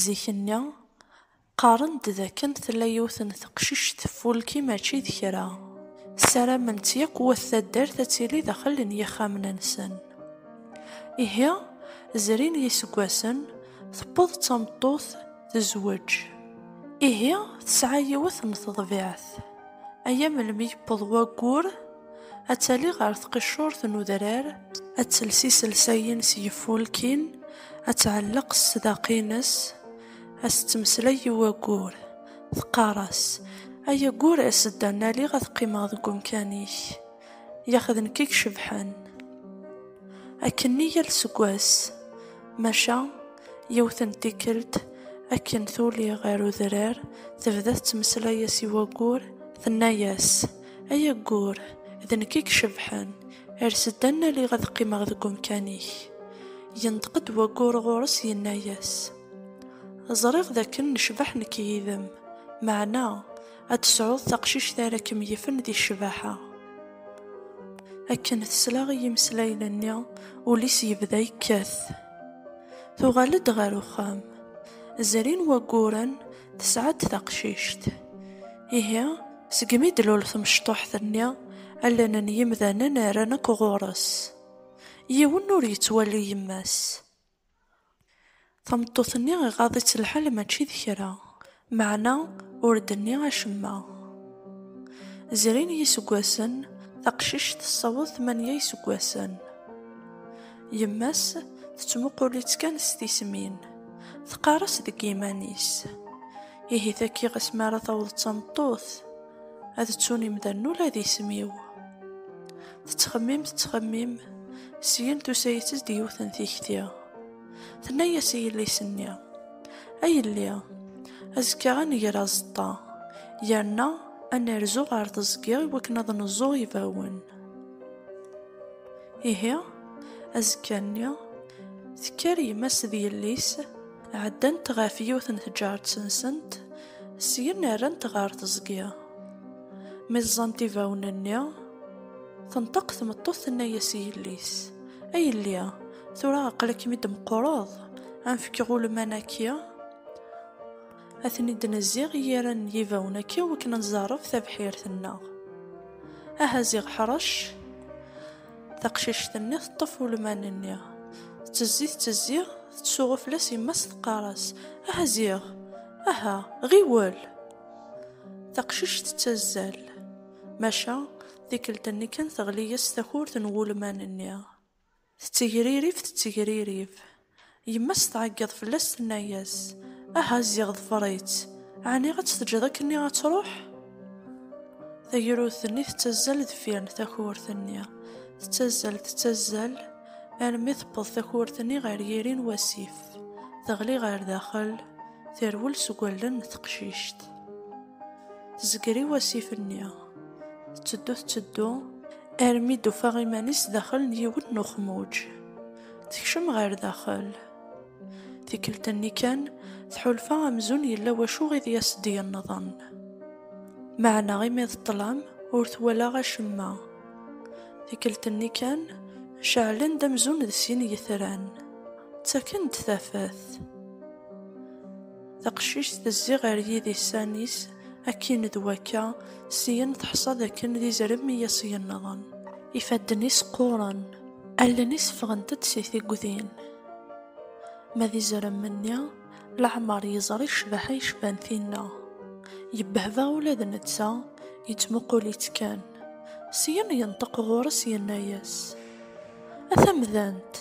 Zik-nni, qqaren-d d akken tella yiwet n teqcict teffulki mačči d kra. Ssaramen-tt yakk wat taddart ad tili daxel n yixxamen-nsen. Ihi, zrin yiseggasen, tewweḍ d tameṭṭut, tezweǧ. Ihi, tesɛa yiwet n teḍbiɛt. Aya melmi yewweḍ waggur? ad tali ɣer tqiccurt n udrar, ad tels iselsayen s yifulkin, ad tɛelleq ssdaq-ines, ad s-ttmeslay i waggur, teqqar-as, Ay aggur, as-d ad naliɣ ad qqimeɣ deg umkan-ik, yax d nekk i icebḥen. Akkenni yal seg wass, maca yiwet n tikkelt, akken tuli ɣer udrar, tebda tettmeslay-as i waggur, tenna-as, Ay aggur, d nekk i icebḥen, ers-d ad naliɣ ad qqimeɣ deg umkan-ik. Yenṭeq-d waggur ɣur-s yenna-yas, Ẓriɣ d akken necbeḥ nekk yid-m, meɛna ad tesɛuḍ taqcict ara kem-yifen di ccbaḥa. Akken tesla i yimeslayen-nni, ul-is yebda yekkat. Tuɣal-d ɣer uxxam. Zrin wagguren, tesɛa-d taqcict. Ihi, Segmi d-lul temecṭuḥt-nni, allen n yimdanen rran akk ɣur-s. Yiwen ur yettwali yemma-s. Tameṭṭut-nni iɣaḍ-itt lḥal mačči d kra, meɛna ur d-tenni acemma. Zrin yiseggasen, taqcict tessaweḍ tmanya iseggasen. Yemma-s tettmuqul-itt kan s tismin. Teqqar-as deg yiman-is. Ihi taki ɣas mi ara taweḍ d tameṭṭut, ad ttun imdanen ula d isem-iw. Tettxemmim tettxemmim, syin tusa-itt-d yiwet n tikti. Tenna-yas i yelli-s-nni, A yelli, azekka ad nger azeṭṭa, yerna ad nerzu ɣer teẓgi iwakken ad neẓẓu ibawen. Ihi, azekka-nni, tekker yemma-s d yelli-s, ɛeddant ɣef yiwet n tǧaret-nsent, syen rrant ɣer teẓgi. Mi ẓẓant ibawen-nni, tenṭeq tmeṭṭut tenna-yas i yelli-s, A yelli, tura aql-ikem-id meqqreḍ, ad am-fkeɣ ulman-agi. a ten-id-nezziɣ i yiran n yibawen akka wakken ad nẓerref tabḥirt-nneɣ. Aha ziɣ ḥrec! Taqcict-nni teṭṭef ulman-nni. Tettezzi, tettezzi, tettsuɣu fell-as yemma-s teqqar-as, Aha ziɣ! Aha, ɣiwel! Taqcict tettazzal. Maca, tikkelt-nni kan teɣli-yas takurt n wulman-nni. Tettegririf, tettegririf. Yemma-s tɛeggeḍ fell-as tenna-yas, Aha ziɣ ḍfer-itt, ɛni ad tt-teǧǧeḍ akkenni ad truḥ? Tagrut-nni tettazzal deffir n takurt-nni, tettazzal, tettazzal, armi tewweḍ takurt-nni ɣer yiri n wasif, teɣli ɣer daxel, terwel seg wallen n teqcict. Tezger i wasif-nni. Tetteddu tetteddu armi d-ufa iman-is daxel n yiwen n uxmuǧ. Tekcem ɣer daxel. Tikkelt-nni kan, tḥulfa amzun yella wacu i d-yas-d yennḍen. Meɛna imi d ṭṭlam, ur twala acemma. Tikkelt-nni kan, ceɛlen-d amzun d sin yitran. Ttaken-d tafat. Taqcict tezzi ɣer yidisan-is. Akin d wakka, syen teḥṣa d akken d izrem i as-yenḍen. Ifadden-is qquren, allen-is ffɣent-d si tiggdin. Ma d izrem-nni, leɛmer yeẓri ccbaḥa yecban tinna. Yebbehba ula d netta, yettmuqul-itt kan. Syen yenṭeq ɣur-s yenna-as, A tamdant!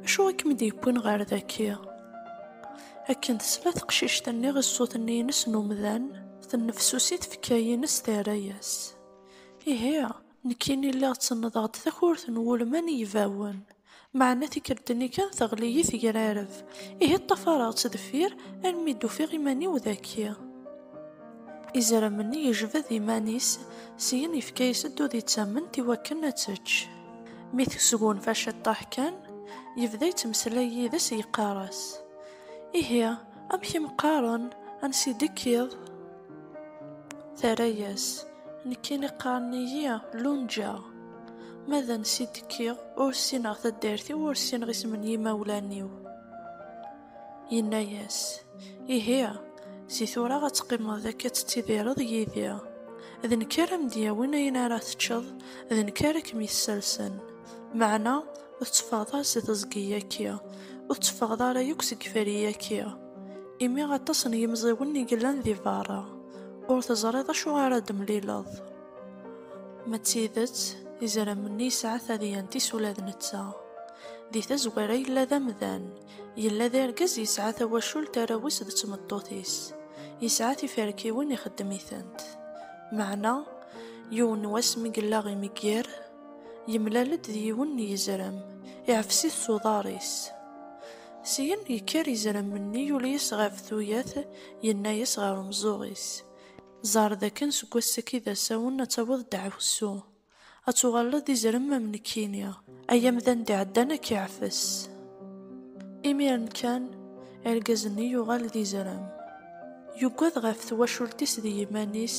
Acu i kem-d-yewwin ɣer daki? Akken tesla teqcict-nni i ṣṣut-nni-ines n umdan, tennefsusi tfekka-ines terra-yas. Ihi, nekkini lliɣ ttennḍeɣ-d takurt n wulman n yibawen. Meɛna tikkelt-nni kan teɣli-yi tegrareb, ihi ṭṭafareɣ-tt deffir almi d-ufiɣ iman-iw daki. Izrem-nni yejbed iman-is, syin yefka-yas-d udi d tamment iwakken ad tečč. Mi tesgunfa ciṭṭaḥ kan, yebda yettmeslay yid-s yeqqar-as, Ihi, amek i m-qqaren, ansi d-tekkiḍ? Terra-yas, Nekkini qqaren-iyi Lunǧa. Ma d ansi d-kkiɣ, ur ssineɣ taddart-iw, ur ssineɣ isem n yimawlan-iw. Yenna-yas, Ihi, si tura ad teqqimeḍ akka ad tettidireḍ yid-i. D nekk ara am-d-yawin ayen ara teččeḍ, d nekk ara kem-yessersen. Meɛna ur tetteffɣeḍ ara si teẓgi-agi, ur tetteffɣeḍ ara yakk seg iferri-agi, imi aṭas n yimẓiwen i yellan di berra, ur teẓriḍ acu ara d-temlileḍ. Ma d tidet, izerman-nni yesɛa tadyant-is ula d netta. Di tazwara yella d amdan, Yella d argaz yesɛa tawacult arraw-is d tmeṭṭut-is, yesɛa tiferkiwin ixeddem-itent. Meɛna, yiwen n wass mi yella imegger, yemlal-d d yiwen n yizrem, iɛfes-it s uḍar-is. Syin, yekker yizrem-nni, yuli-as ɣef tuyat, yenna-as ɣer umeẓẓuɣ-is, Ẓer dakken seg wass-agi d asawen ad taweḍ ddeɛwessu. Ad tuɣaleḍ d izrem am nekkini, ay amdan d-iɛeddan ad k-iɛfes. Imiren kan, argaz-nni yuɣal d izrem. Yugad ɣef twacult-is d yiman-is,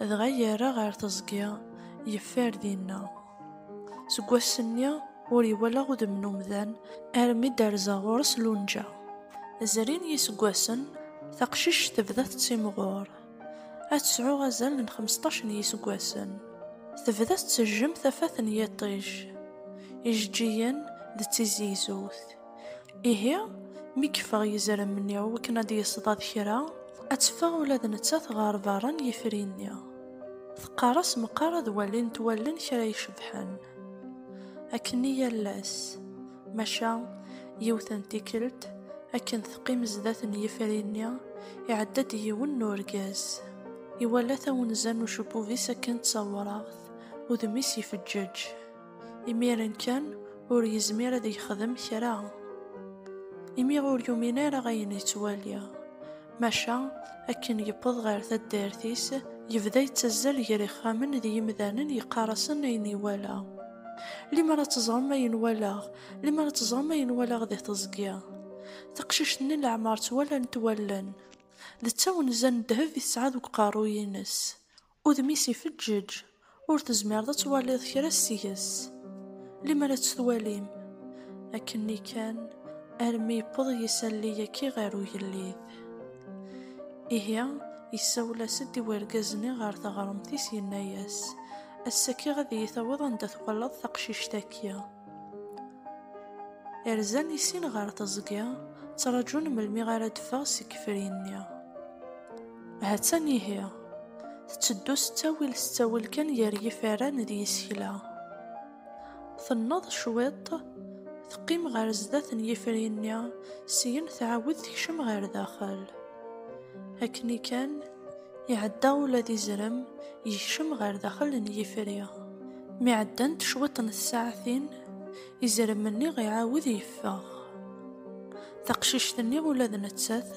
dɣa yerra ɣer teẓgi, yeffer dinna. Seg wass-nni, ur iwala udem n umdan, armi d-terza ɣur-s Lunǧa. Zrin yiseggasen, taqcict tebda tettimɣur. Ad tesɛu azal n 15 n yiseggasen. Tebda tettejjem tafat n yiṭij, ijeǧǧigen d tizegzewt. Ihi, mi yeffeɣ yizrem-nni i wakken ad d-yesḍad kra, ad teffeɣ ula d nettat ɣer berra n yifri-nni. Teqqar-as meqqar ad walint wallen kra icebḥen. Akken i yal ass. Maca yiwet n tikkelt, akken teqqim zdat n yifri-nni, iɛedda-d yiwen n urgaz. Iwala tawenza n ucebbub-is akken d tawraɣt, udem-is ifeǧǧeǧ. Imiren kan, ur yezmir ad yexdem kra. Imi ur yumin ara ayen yettwali. Maca, akken yewweḍ ɣer taddart-is, yebda yettazzal gar ixxamen d yimdanen yeqqar-asen ayen iwala. Limer ad teẓrem ayen walaɣ, limer ad teẓrem ayen walaɣ di teẓgi. Taqcict-nni leɛmer ttwalant wallen. D tawenza n ddheb i tesɛa deg uqerruy-ines. Udem-is ifeǧǧeǧ, ur tezmireḍ ad twaliḍ kra seg-s, limer ad tt-twalim. Akken-nni kan, armi yewweḍ yisalli yaki ɣer ugellid. Ihi, yessawel-as-d i wergaz-nni ɣer teɣremt-is, yenna-as, Ass-agi ad iyi-tawiḍ anda twalaḍ taqcict-agi. Rzan i sin ɣer teẓgi, ttraǧun melmi ara d-teffeɣ seg yifri-nni. Ha-tt-an ihi, tetteddu s ttawil s ttawil kan gar yiferran d yisekla. Tenneḍ cwiṭ, teqqim ɣer sdat n yifri-nni, syin tɛawed tekcem ɣer daxel. Akken kan iɛedda ula d izrem, yekcem ɣer daxel n yifri. Mi ɛeddant cwiṭ n tsaɛtin, izrem-nni iɛawed yeffeɣ. Taqcict-nni ula d nettat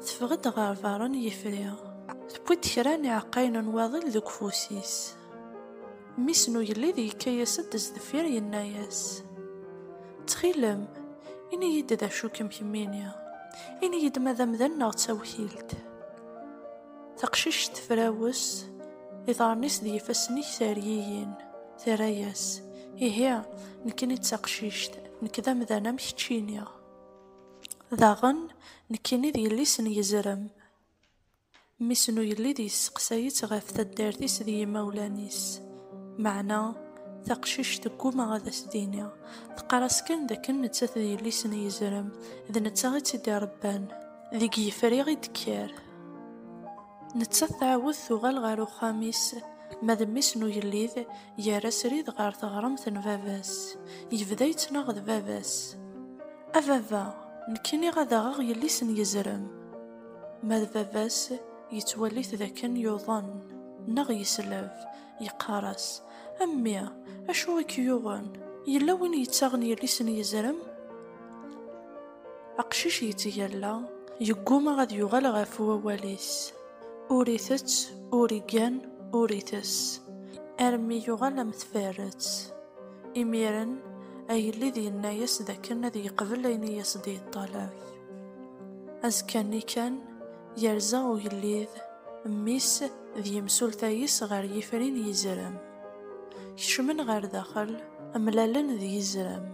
teffeɣ-d ɣer beṛṛa n yifri. Tewwi-d kra n iɛeqqayen n waḍil deg ufus-is. Mmi-s n ugellid yekka-yas-d sdeffir yenna-yas, Ttxil-m, ini-yi-d d acu i kem-kemmini. Ini-yi-d ma d amdan neɣ d tawkilt. Taqcict tefrawes, iḍarren-is d yifassen-ik teryiyin, terra-yas, Ihi, nekkini d taqcict, nekk d amdan am keččini. Daɣen, nekkini d yelli-s n yezrem. Mmi-s n ugellid yesseqsay-itt ɣef taddart-is d yimawlan-is. Meɛna, taqcict tegguma ad as-d-tini, teqqar-as kan d akken nettat d yelli-s n yezrem, d netta i tt-id-irebban. Deg yefriɣ i d-kker. Nettat tɛawed tuɣal ɣer uxxam-is, ma d mmi-s n ugellid, yerra srid ɣer teɣremt n baba-s. Yebda yettnaɣ d baba-s. A baba, nekkini ad aɣeɣ yelli-s n yezrem. Ma d baba-s, yettwali-t d akken yuḍen, neɣ yesleb, yeqqar-as, A mmi, acu i k-yuɣen? Yella win yettaɣen yelli-s n yezrem? Aqcic yetteg alla, yegguma ad yuɣal ɣef wawal-is. Ur itett, ur igan, ur itess. Armi yuɣal am tfarret. Imiren, agellid yenna-yas d akken ad yeqbel ayen i as-d-yeṭṭalab. Azekka-nni kan, yerza ugellid, mmi-s d yimsulta-is ɣer yifri n yizrem. Kecmen ɣer daxel, mlalen d yizrem.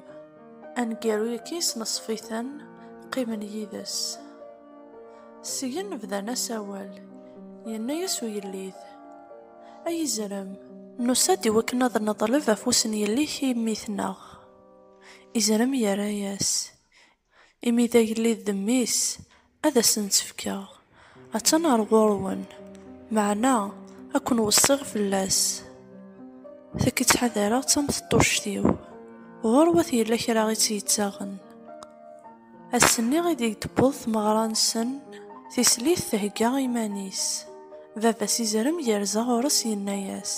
Aneggaru-agi yesneṣf-iten, qqimen yid-s. Syen bdan asawal, yenna-yas uyellid, Ay izrem! Nusa-d i wakken ad neḍleb afus n yelli-k i mmi-tneɣ. Izrem yerra-yas, Imi d agellid d mmi-s, Ad asen-tt-fkeɣ, attan ɣer ɣur-wen, meɛna ad ken-weṣṣiɣ fell-as. Takk i ttḥadareɣ d tamteṭṭuct-iw, ɣur wat yella kra i tt-yettaɣen. Ass-nni i d-tewweḍ tmeɣra-nsen, tislit thegga iman-is, baba-s izerrem yerza ɣur-s yenna-as,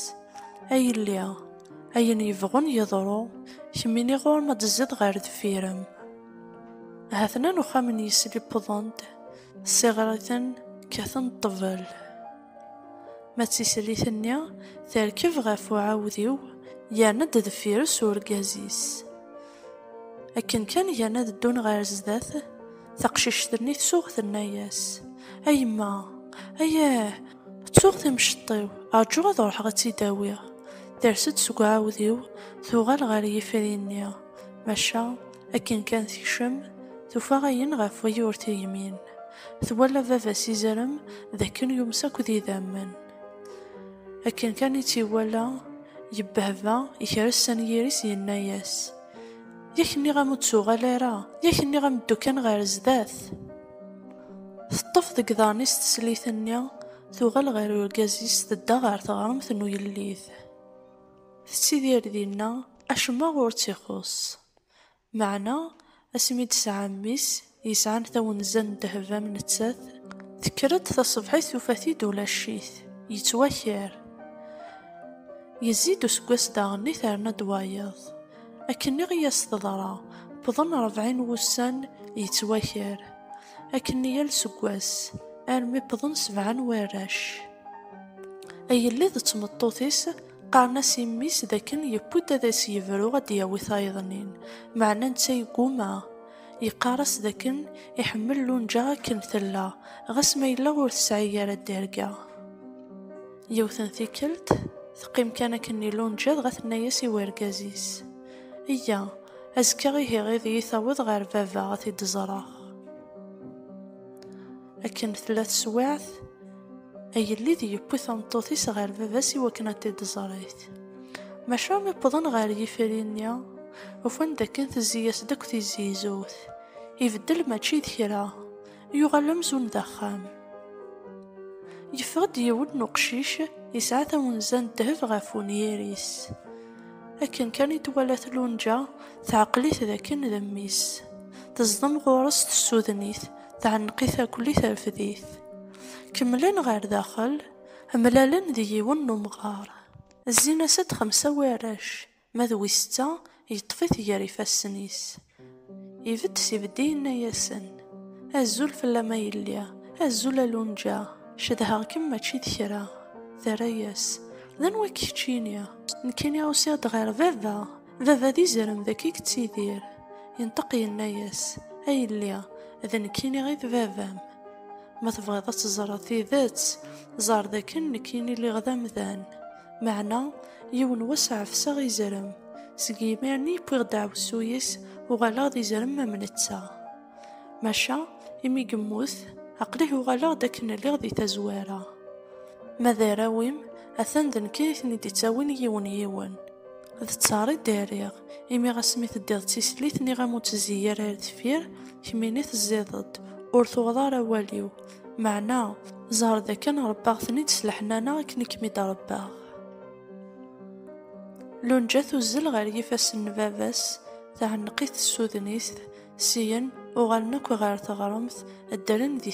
A yelli, ayen yebɣun yeḍru, kemmini ɣur-m ad d-tezziḍ ɣer deffir-m. Hatnan uxxam n yisli wwḍen-d, ssiɣriten, kkaten ṭṭbel. Ma d tislit-nni, terkeb ɣef uɛawdiw, yerna-d deffir-s urgaz-is. Akken kan gan ad ddun ɣer sdat, taqcict-nni tsuɣ tenna-yas, A yemma, ayah, ttuɣ timceṭ-iw, rǧu ad ruḥeɣ ad tt-id-awiɣ. Ters-d seg uɛawdiw, tuɣal ɣer yifri-nni. Maca akken kan tekcem, tufa ayen ɣef waya ur tegmin. Twala baba-s izerrem d akken yumes akk d idammen. Akken kan i tt-iwala, yebbehba, yekres anyir-is yenna-as, Yak nniɣ-am ur d-tuɣal ara, yak nniɣ-am ddu kan ɣer sdat. Teṭṭef deg iḍarren-is teslit-nni, tuɣal ɣer urgaz-is tedda ɣer teɣremt n ugellid. Tettidir dinna Acemma ur tt-ixuṣṣ. Meɛna asmi i d-tesɛa mmi-s yesɛan tawenza n ddheb am nettat, tekker-d taṣebḥit tufa-t-id ulac-it, yettwaker. Yezzi-d useggas daɣenni terna-d wayeḍ. Akkenni i as-teḍra, wwḍen rebɛin wussan yettwaker. Akkenni yal seggas, armi wwḍen sebɛa n warrac. Agellid d tmeṭṭut-is. Qqaren-as i mmi-s d akken yewwi-d ad as-yebru ad d-yawi tayeḍnin, meɛna netta yegguma. Yeqqar-as d akken iḥemmel Lunǧa akken tella, ɣas ma yella ur tesɛi ara dderga. Yiwet n tikkelt, teqqim kan akkenni Lunǧa dɣa tenna-as i wergaz-is, Eyya, azekka ihi ad iyi-taweḍ ɣer baba ad t-id-ẓreɣ. Akken tella teswiɛt, agellid yewwi tameṭṭut-is ɣer baba-s i wakken ad t-id-ẓrit. Maca mi wwḍen ɣer yifri-nni, ufan dakken tezzi-yas-d akk tizizut. Ibeddel mačči d kra, yuɣal amzun d axxam. Yeffeɣ-d yiwen n uqcic yesɛa tawenza n ddheb ɣef unyir-is. Akken kan i twala tlunja, teɛqel-it dakken d mmi-s. Teẓdem ɣur-s tessuden-it. teɛneq-it akuli terfed-it. Kemmlen ɣer daxel, mlalen d yiwen n umɣar. Zzin-as-d xemsa n warrac, ma d wis setta yeṭṭef-it gar ifassen-is. Ibedd s ibedd yenna-yasen, Azul fell-am a yelli, azul a Lunǧa, cedheɣ-kem mačči d kra. Terra-yas, D anwa-k keččini? Nekkini usiɣ-d ɣer baba. Baba d izerem deg i yettidir. Yenṭeq yenna-yas, a yelli, d nekk i niɣ i d baba-m. Ma tebɣiḍ ad teẓreḍ tidet, ẓer d akken nekk i niliɣ d amdan. Meɛna, yiwen wass ɛefseɣ izerem. Seg yimir-nni i wwiɣ ddaɛwessu-is, uɣaleɣ d izerem am netta. Maca, imi yemmut, aql-i uɣaleɣ-d akken lliɣ di tazwara. Ma d arraw-im, atan d nekk ay ten-id-ittawin yiwen yiwen. D ttar i d-rriɣ, imi ɣas mi teddiḍ d tislit nniɣ-am ur ttezzi ara ar deffir, kemmini tezziḍ-d, ur tuɣeḍ ara awal-iw, meɛna, ẓer d akken rebbaɣ-ten-id s leḥnana akken i kem-id-rebbaɣ. Lunja tuzzel ɣer yifassen n baba-s, Tɛenneq-it tsudnist, syen uɣalen akk ɣer teɣremt, ddren di